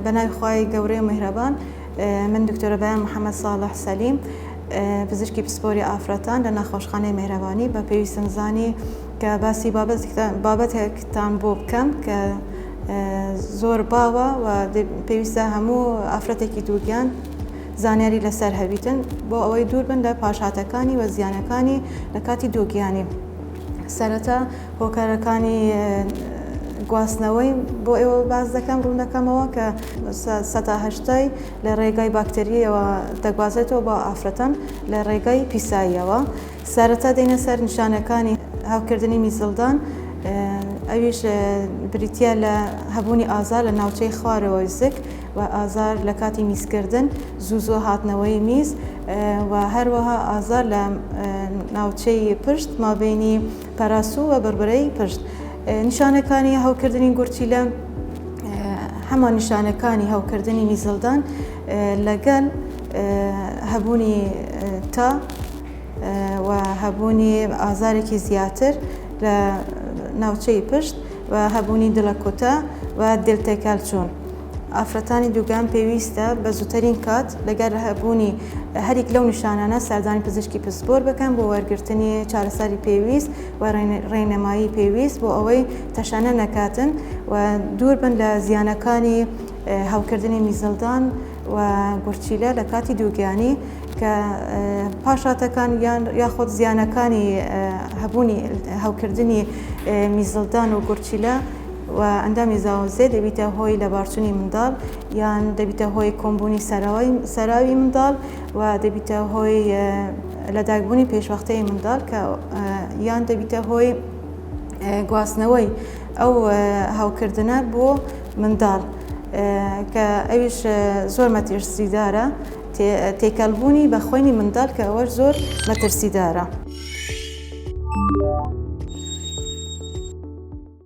بەناوی خوای گەورەی مهرەبان من دکتۆرە بەیان محەممەد ساڵح سەلیم پزیشکی پسپۆری ئافرەتان لە ناخۆشخانەی مهرەبانی بە پێویستم زانی کە باسی بابەتێکتان بۆ بکەم کە زۆر باوە و پێویستە هەموو ئافرەتێکی دووگیان زانیاری لەسەر هەبیتن بۆ ئەوەی دوور بن لە پاشهاتەکانی و زیانەکانی لە کاتی دووگیانی سەرەتا هۆکارەکانی گواستنەوەی بۆ ئێوە باس دەکەم، ڕوون دەکەمەوە کە سەتا هەشتای لە ڕێگای باکترییەوە دەگوازرێتەوە بۆ ئافرەتان لە ڕێگای پیساییەوە. سەرەتا دێینە سەر نیشانەکانی هەوکردنی میزڵدان، ئەویش بریتییە لە هەبوونی ئازار لە ناوچەی خوارەوەی زگ و ئازار لە کاتی میزکردن، زوو زوو هاتنەوەی میز و هەروەها ئازار لە ناوچەی پشت مابەینی پەراسوو و بڕبرەی پشت نیشانەکانی هەوکردنی گورچیلە هەمان نیشانەکانی هەوکردنی میزڵدان لەگەل هەبوونی تا و هەبوونی ئازارێکی زیاتر لە ناوچەی پشت و هەبوونی دڵەکوتە و دلتێکەلچوون. ئافرەتانی دووگیان پێویستە بە زووتەرین کات لەگەر هەبوونی هەریک لەو نیشانانە سەردانی پزیشکی پسپۆر بکەن بۆ وەرگرتنی چارەسەری پێویست و ڕێنمایی پێویست بۆ ئەوەی تەشەنە نەکاتن و دوور بن لە زیانەکانی هەوکردنی میزەڵدان و گورچیلە لە کاتی دووگیانی کە پاشاتەکان یان یاخود زیانەکانی هەبوونی هەوکردنی میزڵدان و گورچیلە و ئەندامی زاوزێ دەبیتە هۆی لەبارچونی منداڵ یان دەبیتە هۆی کۆمبوونی سەراوی منداڵ و دەبیتە هۆی لەداگبوونی پێشوەختەی منداڵ کە یان دەبیتە هۆی گواستنەوەی ئەو هەوکردنە بۆ منداڵ کە ئەویش زۆر مەترسیدارە تێکەڵبوونی بە خۆینی منداڵ کە ئەوەش زۆر مەترسیدارە.